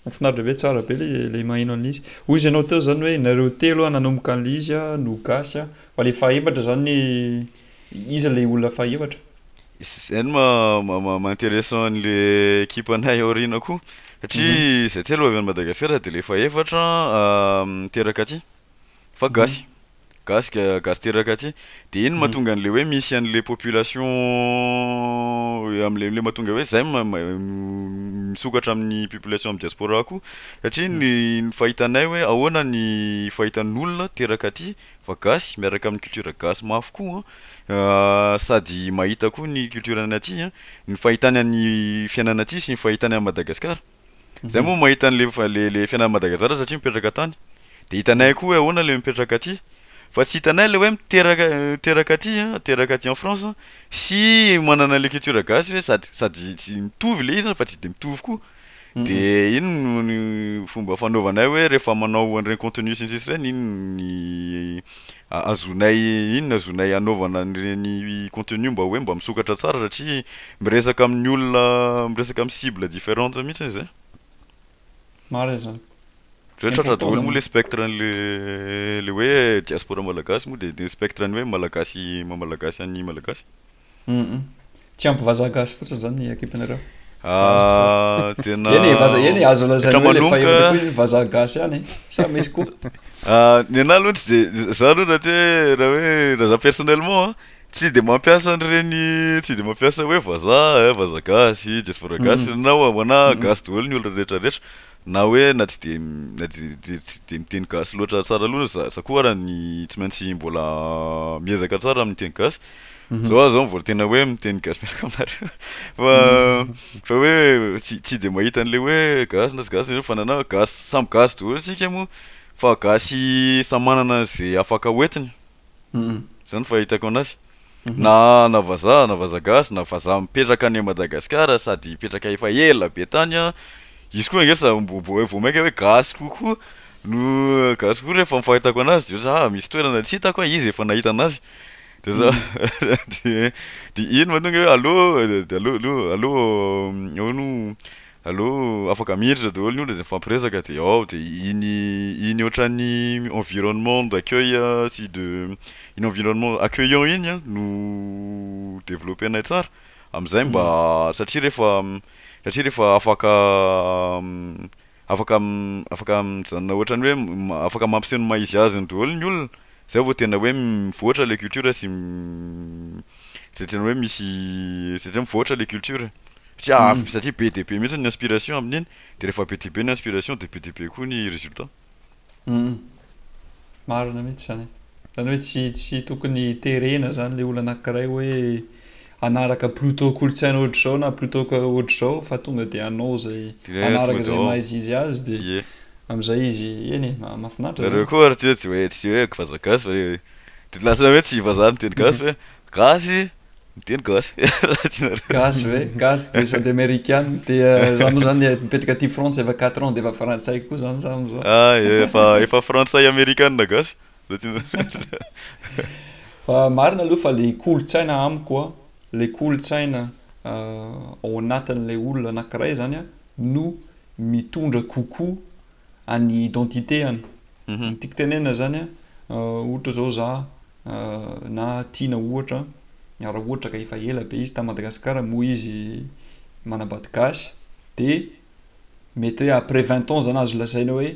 Mafinaritra be, tsara be ilay maheno an'ilay izy. Hoy izy anao teo izany hoe nareo telo an nanomboka an'ilay izy an no gasy an, fa ilay fahefatra izany iza ilay olona fahefatra? Zay no
maha intéressant an'le ekipanay aoriana koa satria zay telo avy any Madagasikara de le fahefatra miteraka aty fa gasy. Gasy gasy teraka aty. De iny mahatonga an'le hoe misy an'le population am'le le mahatonga hoe zay ma- ma- misokatra amin'ny population amin'ny diaspora koa satria ny ny fahitanay hoe ahoana ny fahitan'olona teraka aty fa gasy miaraka amin'ny culture gasy mafy koa an, sady mahita koa ny culture-ny aty an, ny fahitany an'ny fiainana aty sy ny fahitany an'i Madagasikara. Zay moa mahita anle le fianany Madagazara satria mipetraka tany de hitanay koa hoe ahoana le mipetraka aty fa tsy hitanay le hoe miteraka miteraka aty an miteraka aty en France an sy manana le culture gasy hoe sady sady tsy mitovy le izy an fa tsy de mitovy koa de iny no ny fomba fanaovanay hoe refa manao an'ireny contenu sy ny sisa ireny iny ny A azonay inona azonay anaovana an'ireny contenu mba hoe mba misokatra tsara satria miresaka amin'ny olona miresaka amin'ny cible differente mihitsy izy e.
Marina izany. Zay tratra
daholo moa le spectre an'le le hoe diaspora malagasy moa de ny spectre ny hoe malagasy maha malagasy an'ny malagasy. Humm.
Tsy ampy vazaha gasy fotsiny zany ny ekipanareo. Ah
tena Eny e, vaza, eny e,
azo lazaina hoe ilay fahefana koa iny vazaha gasy ihany e, sa misy koa?
Ah, ny anahy aloha tsy de, za aloha raha tsy
hoe,
raha hoe, raha za personnellement an, tsy de mampiasa an'ireny, tsy de mampiasa hoe vazaha, vazaha gasy, diaspora gasy, ny anahy ho anahy gasy daholo ny olona rehetra rehetra. Na hoe na tsy dia na dia tsy dia miteny gasy loatra tsara loatra za za koa ary ny tsy maintsy mbola miezaka tsara amin'ny teny gasy. Zao aho zao mbola tena hoe miteny gasy miaraka aminareo fa fa hoe tsy tsy dia mahita an'le hoe gasy na tsy gasy nareo fa na gasy samy gasy daholo isika moa fa gasy samy manana ze afaka hoentiny. Izany fahitako anazy. Na na vazaha na vazaha gasy na vazaha mipetraka any Madagasikara sady hipetraka efa ela be tany an, izy koa ange sa mbo mbo vao maika hoe gasy kokoa no gasy kokoa refa ny fahitako anazy de ohatry zah misy toerana tsy hitako an, izy efa nahita anazy de za de iny manonga hoe allo de allo allo allo ahoana o Allo, afaka miditra daholo ny olona de mifampiresaka de ao de iny iny ohatran'ny environnement d'accueil sy de iny environnement accueillant iny an no developper-nay tsara amizay mba satria refa satria refa afaka afaka afaka mijanona ohatran'ny hoe afaka mampiseho ny maha izy azy ny daholo ny olona zay vao tena hoe mivoatra le culture sy Zatra ny hoe misy satria mivoatra le culture satria avy satria be dia be mihitsy ny inspiration amin'iny de rehefa be dia be ny inspiration de be dia be koa ny résultat. Humm.
Marina mihitsy zany. Zany hoe tsy tsy tokony terena zany le olana anankiray hoe hanaraka plutot kolotsaina ohatr'izao na plutot ka ohatr'izao fa tonga de hanao zay hanaraka zay maha izy izy azy de amizay izy eny e mahafinaritra zany. Nareo koa ary tsy hoe tsy hoe
tsy hoe vazagasy fa hoe. De lasa hoe tsy vazaha miteny gasy hoe gasy miteny gasy raha tianareo. Gasy
ve? Gasy dia sady amerikana dia za moa zany mipetraka aty frantsa efa quatre ans dia efa frantsay koa zany za amizao. Ah ie efa efa frantsay
amerikana gasy raha tianareo.
Fa marina aloha fa le kolontsaina amiko a, le kolontsaina ao anatin'ilay olona anankiray zany a no mitondra kokoa. an'ny identité-any. Ny tiako tenenina izany an, ohatra izao za na Tiana ohatra, raha ohatra ka efa ela be izy tany Madagasikara moa izy manambady gasy de mety hoe après vingt ans zany azo lazaina hoe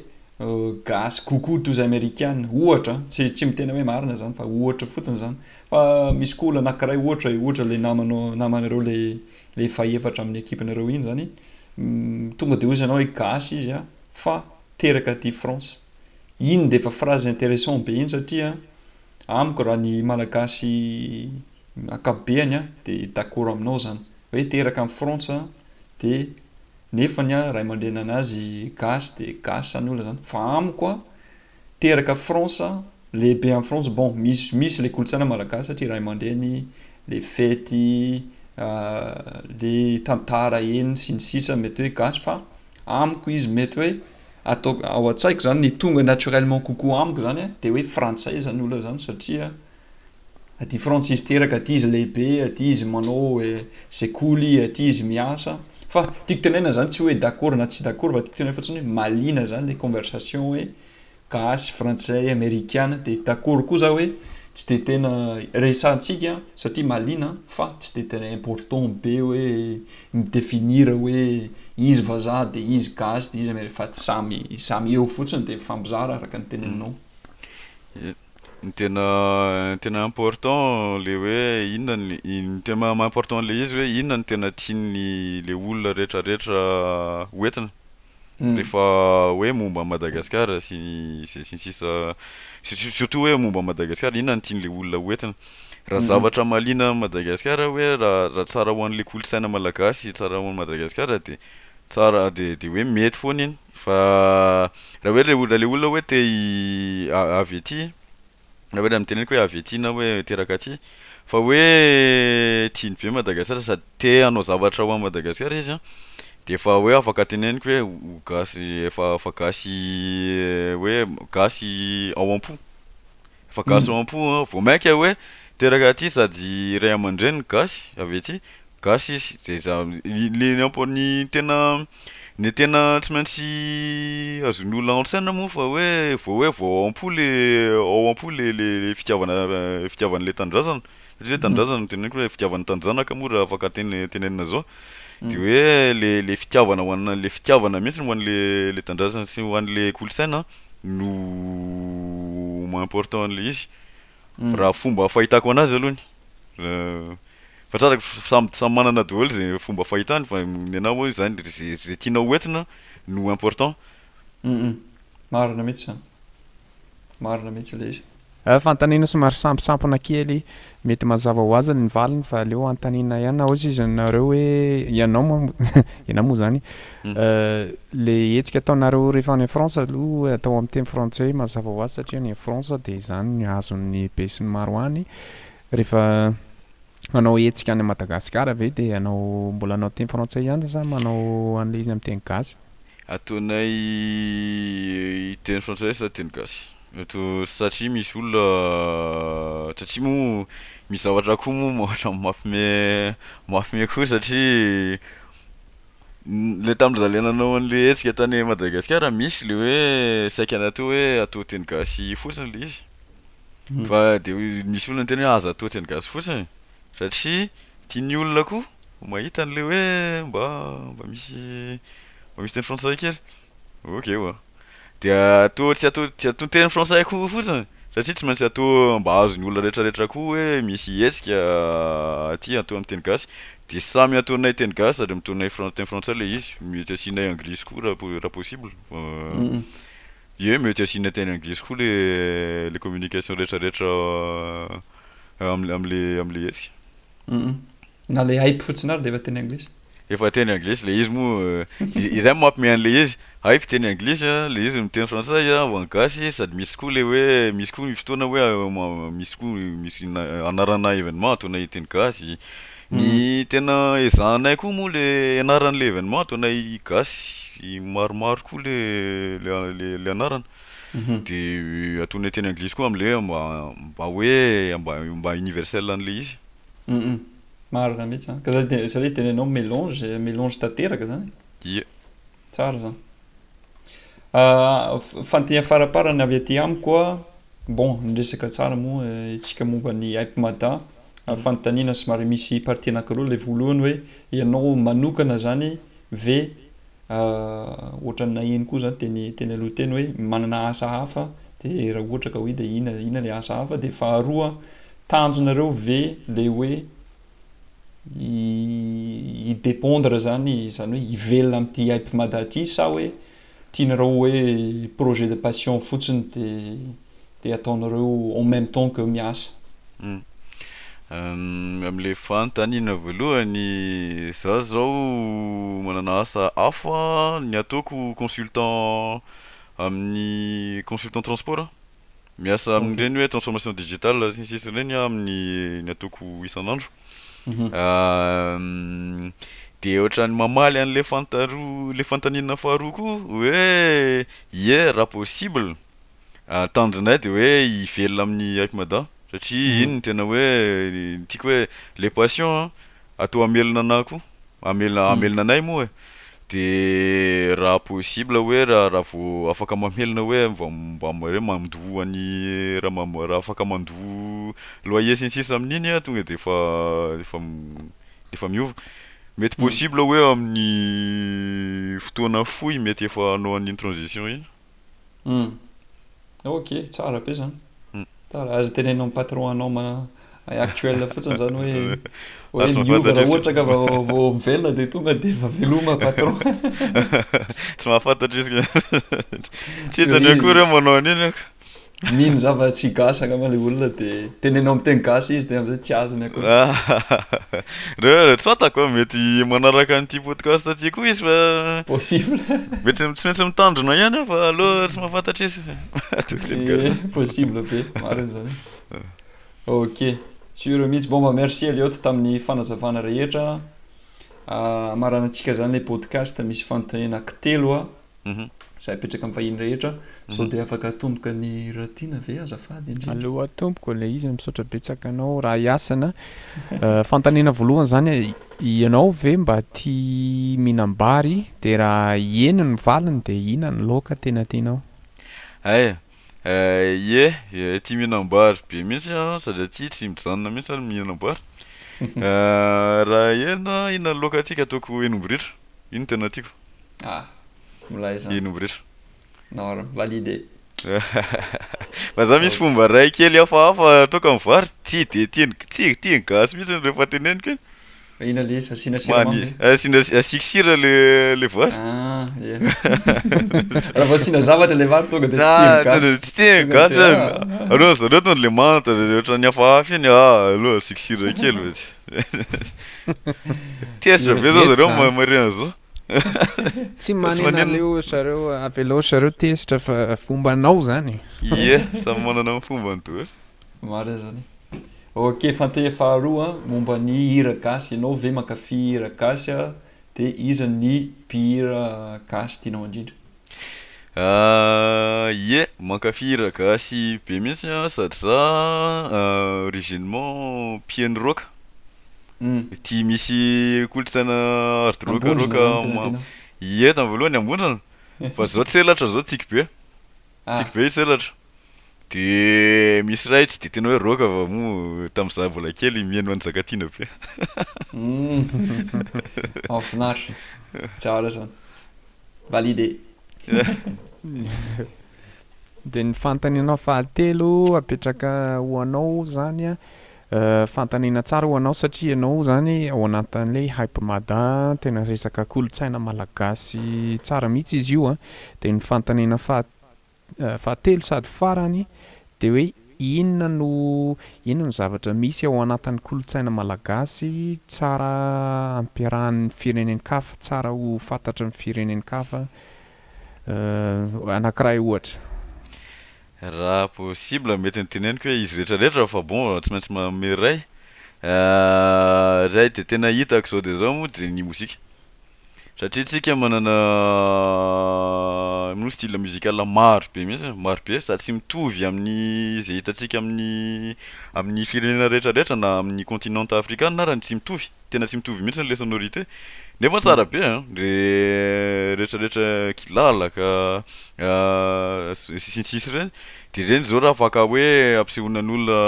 gasy kokoa toy izay amerikana, ohatra an, tsy tsy miteny hoe marina zany fa ohatra fotsiny zany, fa misy koa olona anakiray ohatra e, ohatra le namanao namanareo le Ilay fahefatra amin'ny ekipinareo iny izany, tonga dia hozy ianao hoe gasy izy an, fa teraka aty France. Iny dia efa phrase interessant be iny satria amiko raha ny malagasy ankapobeany an, dia d'accord aminao izany. Hoe teraka any France an, dia nefany an ray aman-drenin'anazy gasy dia gasy izany olona izany. Fa amiko an, teraka France, lehibe any France, bon misy misy le kolontsaina malagasy satria ray aman-dreny, le fety, le tantara eny sy ny sisa mety hoe gasy fa amiko izy mety hoe ataoko ao an-tsaiko zany ny tonga naturellement kokoa amiko zany dia hoe frantsay zany olona zany satria Aty France izy teraka, aty izy lehibe, aty izy manao sekoly, aty izy miasa. Fa tiako tenenina zany tsy hoe d'accord na tsy d'accord fa tiako tenenina fotsiny hoe mahaliana zany le conversation hoe gasy, frantsay, amerikana de d'accord koa za hoe tsy de tena resahantsika satria mahaliana fa tsy de tena important be hoe mi-definir hoe izy vazaha de izy gasy de izy ameri- fa samy samy eo fotsiny de mifampizara araka ny teneninao.
Ny tena tena important le hoe inona ny ny tena maha important an'le izy hoe inona no tena tian'ny le olona rehetra rehetra ho entina rehefa hoe momba an'i Madagasikara sy ny sisa sy ny sisa sur- surtout hoe momba an'i Madagasikara inona no tian'le olona ho entina raha zavatra mahaliana an'i Madagasikara hoe raha raha tsara ho an'le kolontsaina malagasy tsara ho an'i Madagasikara de tsara de de hoe mety foana iny. Fa raha hoe le olona le olona hoe te hi avy aty, raha hoe raha ny teneniko hoe avy aty na hoe teraka aty, fa hoe tiany be Madagasikara sady te hanao zavatra ho an'i Madagasikara izy an, de efa hoe afaka teneniko hoe ho gasy efa efa gasy hoe gasy ao am-po. Efa gasy ao am-po an! Vao mainka hoe teraka aty sady ray aman-dreniny gasy avy aty, gasy izy dia za le ny ampo ny tena ny tena tsy maintsy azon'ny olona ao an-tsaina moa fa hoe vao hoe vao ao am-po le ao am-po le le fitiavana fitiavana ilay tanindrazana Satria le tanindrazana no teneniko le fitiavana tanjanaka moa raha afaka teny tenenina zao de hoe le le fitiavana ho ana le fitiavana mihitsy ho anle le tanindrazana sy ho anle kolontsaina no maha important anle izy raha fomba fahitako anazy aloha ny fa tratrako fa samy samy manana daholo ze fomba fahitany fa nenao moa zany ze ze tianao ho entina no important.
Marina mihitsy zany. Marina mihitsy le izy. Hay fanontaniana somary
samposampona kely, mety mazava ho azy ny valiny fa aleo anontaniana ihany na ozy izy nareo hoe ianao moa ianao moa zany le hetsika ataonareo rehefa any France aloha atao amin'ny teny frantsay mazava ho azy satria any France dia izany ny azon'ny be sy ny maro any rehefa Manao hetsika any Madagasikara ve dia anao mbola anao teny frantsay ihany sa manao an'ilay izy amin'ny teny gasy? Ataonay
teny frantsay sa teny gasy eto satria misy olona satria moa misy zavatra koa moa ohatra ny mafime mafime koa satria ilay tamin'ny ry zalahy nanao an'ilay hetsika tany Madagasikara misy ilay hoe saika natao hoe atao teny gasy fotsiny ilay izy. Fa de misy olona miteny hoe aza atao tsy an'i gasy fotsiny satria tian'ny olona koa mahita an'le hoe mba mba misy mba misy teny frantsay kely. Ok wa. Dia atao tsy atao tsy atao teny frantsay koa fotsiny satria tsy maintsy atao mba azon'ny olona retraretra koa hoe misy hetsika aty atao amin'ny teny gasy de samy ataonay teny gasy sady mitaonay fran- teny frantsay le izy mety asianay anglisy koa raha po- raha possible fa Ie mety asiana teny anglisy koa le le communication rehetra rehetra amle amle amle hetsika. Humm
na le hype fotsiny ary de efa teny anglisy. Efa teny anglisy
le izy moa i izay moa mampimehy anle izy hype teny anglisy a le izy miteny frantsay a ho an'ny gasy sady misy koa le hoe misy koa ny fotoana hoe misy koa misy na anarana evenement ataonay teny gasy Ny tena ezahanay koa moa le ianarana le evenement ataonay gasy maromaro koa le le le anarana de ataonay teny anglisy koa amle mba mba hoe mba mba universel anle izy. Humm
marina mihitsy zany ka zay de zay de enao melange melange tanteraka zany e. Ie. Tsara zany. Ah, fandihy faraparany avy aty amiko a, bon, niresaka tsara moa isika momba ny Hype Mada, ary fanontaniana somary misy partie anankiroa, ilay voalohany hoe ianao manokana zany ve ah, ohatran'ny naheno koa zany teny teny aloha teny hoe manana asa hafa, de raha ohatra ka hoe de inona inona le asa hafa, de faharoa tanjonareo ve le hoe hi dependre zany zany hoe hivelona amin'ity hype mada ity sa hoe tianareo hoe projet de passion fotsiny de de ataonareo en même temps que miasa.
Hum amin'ilay fanontaniana voalohany, za zao manana asa hafa, ny ataoko consultant amin'ny consultant transport a, Miasa amin'ireny hoe transformation digitale sy ny sisa ireny aho amin'ny ny ataoko isan'andro. Dia ohatran'ny mamaly an'ilay fantaroa, ilay fanontaniana faharoa koa hoe ie raha possible, tanjonay dia hoe hivelona amin'ny hype mada satria iny no tena hoe ny tiako hoe le passion Ato hamelona anah koa, hamelona hamelona anay moa e, de raha possible hoe raha raha vao afaka mamelona hoe vao mba hoe mandoa an'i raha mba mba raha afaka mandoa loyer sy ny sisa amin'iny ah tonga de efa efa efa miova, mety possible hoe amin'ny fotoana fohy mety efa hanao an'iny transition iny. Humm
ok tsara be zany Tara aza teneno amin'ny patron anao ma actuel fotsiny zany hoe hoe miova raha ohatra ka vao mivelona dia tonga dia efa veloma patron
tsy mahafantatra izy tsy hitany akory aho manao an'iny Mino zava
tsy gasy angamba le olona de teneno am teny gasy izy de amzay tsy azony akory.
Reo tsy fantako an, mety manaraka an'ity podcast ty koa izy fa possible
mety tsy maintsy
mitandrina ihany aho fa aleo tsy mahafantatra izy fa mahatoky teny gasy. Eh
possible be, marina zany. Ok, sûr mihitsy, bon bah merci Elliot tamin'ny fanazavana rehetra, a, amaranantsika zany le podcast misy fanontaniana aky telo a. Za hipetraka amin'ny vahiny rehetra sao dia afaka atomboka ny ratiana ve azafady indrindra. Aleo atomboka ilay
izy misaotra betsaka anao Ra Yasina Fanontaniana voalohany zany e ianao ve mba tia mihinam-bary dia raha eny ny valiny dia ina ny laoka tena tianao? Ay
ie tia mihinam-bary be mihitsy aho sady aty tsy mijanona mihitsy ary mihinam-bary Raha eny ina ny laoka tiako ataoko henim-boritro iny tena tiako.
Ah,
milay zany.
Eny mirefa. Nord,
validé. Fa za misy fomba ray kely hafahafa toaka amin'ny vary, tsy de tiany tsy tiany gasy mihitsy ny rehefa teneniko e. Fa ina le izy asiana
siramamy le? Asiana asiako sira
le le vary. Ah, ye.
Raha vao asiana zavatra le vary tonga de tsy tiany gasy. Ah, tsy tiany
gasy. Aleo zareo tonga le manta ohatran'ny hafahafa iny ah, aleo asiako sira kely izy. Tezitra be zao zareo marina zao.
Tsy manena aleo zareo avelao zareo tezitra fa fomba anao zany. Ie, samy
manana ny fombany to. Maro zany.
Ok, fanteha faharoa momba ny hira gasy, ianao ve mankafy hira gasy dia iza ny mpihira gasy tianao indrindra? Ah
ie, mankafy hira gasy be mihitsy aho sady za originement mpiheno rock, aty misy kolontsaina hard rock rock ma-, ie tamin'ny voalohany Ambondrona, fa zao tselatra zao tsiky be, tsiky be i tselatra, de misy ray tsy de tena hoe rock fa moa tamin'ny za mbola kely miheno an'i Njakatiana be.
Mahafinaritra, tsara zany. Validé.
Dia ny fanontaniana fahatelo apetraka ho anao izany an, fanontaniana tsara ho anao satria ianao izany ao anatin'ilay Hypemada tena resaka kolontsaina malagasy tsara mihitsy izy io an, dia ny fanontaniana faha. Fahatelo sady farany dia hoe inona no inona no zavatra misy ao anatin'ny kolontsaina malagasy tsara ampiarahan'ny firenen-kafa, tsara ho fantatry ny firenen-kafa anankiray ohatra?
Raha possible mety ny teneniko hoe izy rehetra rehetra raha fa bon tsy maintsy manome iray, iray dia tena hitako izao dia izao moa dia ny mozika, Satria tsika manana moa style musical maro be mihitsy e, maro be sady tsy mitovy amin'ny ze hitantsika amin'ny amin'ny firenena rehetra rehetra na amin'ny continent afrikana ara tsy mitovy, tena tsy mitovy mihitsy le sonorité nefa tsara be a, le rehetra rehetra kilalaka sy ny sisa sy ny sisa reny de reny zao raha afaka hoe ampisehoana an'olona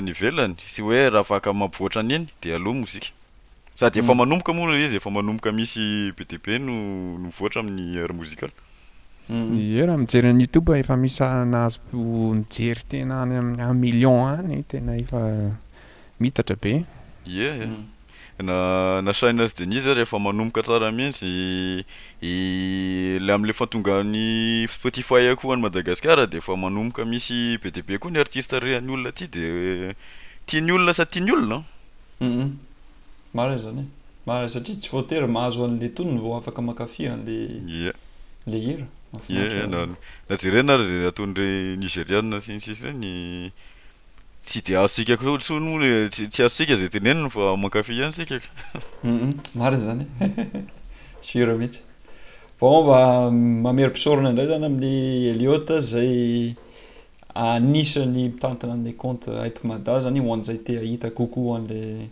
any ivelany sy hoe raha afaka mampivoatra an'iny de aleo mozika. Sady efa manomboka moa ilay izy, efa manomboka misy be dia be no nivoatra amin'ny Air Musical. Ie,
raha mijery any youtube efa misy sahana azo mijery tena any amin'ny un million any, tena efa miitatra be. Ie,
na na Shyness Denise ary efa manomboka tsara mihitsy, ilay amin'ilay fantongan'ny Spotify koa any Madagasikara dia efa manomboka misy be dia be koa ny artista rehan'ny olona aty dia tian'ny olona sady tian'ny olona an! Humm
marina izany e. Marina satria tsy voatery mahazo an'ilay tonony vao afaka mankafy an'ilay hira. Mahafinaritra raha zany.
Na jerena ary izay ataon'ireny Nigeriana sy ny sisa ireny tsy dia azontsika intsony moa le tsy azontsika izay teneniny fa mankafy ihany isika ka. Humm marina
izany e. Sûr mihitsy. Vao mba mamery mpisorona indray izany amin'i Eliot izay. Anisan'ny mitantana an'ilay compte Hype Mada zany, ho an'izay te hahita kokoa an'ilay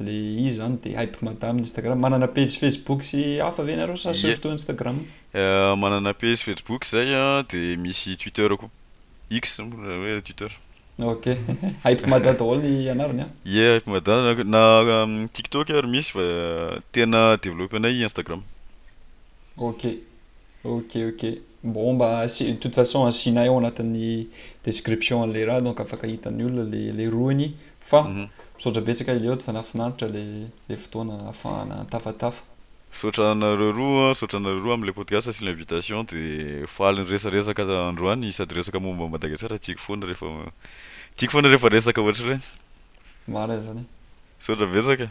le izy zany dia Hype Mada amin'ny Instagram. Manana pejy Facebook sy hafa ve nareo sa Ie. surtout Instagram? Manana
pejy Facebook izay a, dia misy Twitter koa, X moa na hoe Twitter. Ok,
Hype Mada daholo ny anarany an! Ie, Hype Mada,
na TikTok ary misy fa tena developpe-nay Instagram. Ok,
ok, ok. Bon mba asi, de toute façon asianay ao anatin'ny description an'ilay raha donc afaka hitan'ny olona le le rohiny fa misaotra betsaka Eliot fa nahafinaritra le le fotoana ahafahana tafatafa. Misaotra anareo
roa, misaotra anareo roa amin'ilay podcast sy l'invitation de faly niresaresaka androany sady resaka momba Madagasikara tiako foana rehefa tiako foana rehefa resaka ohatr'ireny. Marina izany.
Misaotra betsaka.